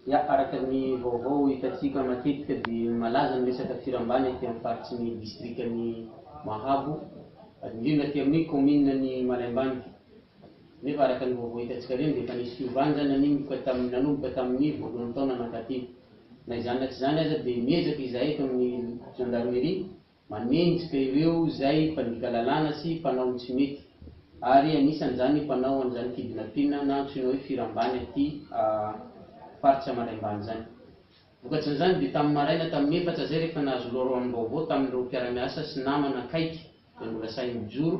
Ya, araka ny vaovao hitantsika matetika dia malaza ny resaka firambana ety amin'ny faritry ny distrikan'i Mahabo, indrindra aty amin'ny kaominina ny Malaimbandy. Nefa araka ny vaovao hitantsika ireny dia efa nisy fiovana izany nanomboka tamin'ny nanomboka tamin'ny voalohan'ny taona mankaty. Na izany na tsy izany aza dia miezaka izahay eto amin'ny gendarmerie Manenjika ireo izay mpandika lalàna sy mpanao ny tsy mety, ary anisan'izany ny mpanao an'izany kidnapping na antsoina hoe firambany aty faritra Mandaimbany izany. Vokatrin'izany dia tamin'ny maraina tamin'ny efatra izay rehefa nahazo loharanom-baovao tamin'ireo mpiara-miasa sy namana akaiky dia norasahin'ny joro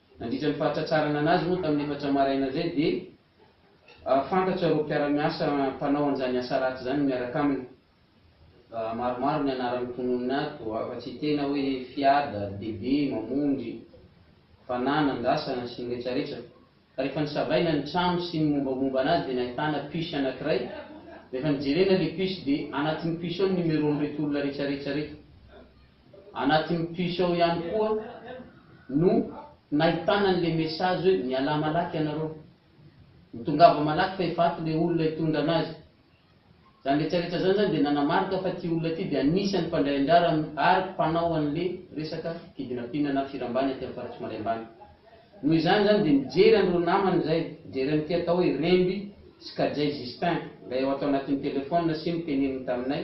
Nandritra ny fahatratrarana anazy moa tamin'ny efatra maraina izay dia fantatro ireo mpiara-miasa mpanao an'izany asa ratsy izany miaraka aminy. Maromaro ny anaran'ny mpononina ato, afa-tsy tena hoe Fiada, Bebe, Mamonjy, Fanana, Andrasana sy ny retraretra. Ka rehefa nisavaina ny trano sy ny mombamomba anazy dia nahitana puce anankiray. Rehefa nijerena ilay puce dia anatin'ny puce ao ny numéro-n'reto olona retraretra reto. Anatin'ny puce ao ihany koa no nahitana an'ilay message hoe mialà malaky ianareo. Mitongava malaky fa efa ato ilay olona hitondra anazy. Izany retraretra izany izany dia nanamarika fa ity olona ity dia anisan'ny mpandray anjara amin'ny ary mpanao an'ilay resaka kidnapping na firambany aty amin'ny faritry Maray Ambany. Noho izany izany dia nijery an'ireo namany izay, nijery an'ity atao hoe Remby sy Kajay Justin, ilay ao ato anatin'ny telephone sy niteneniny taminay,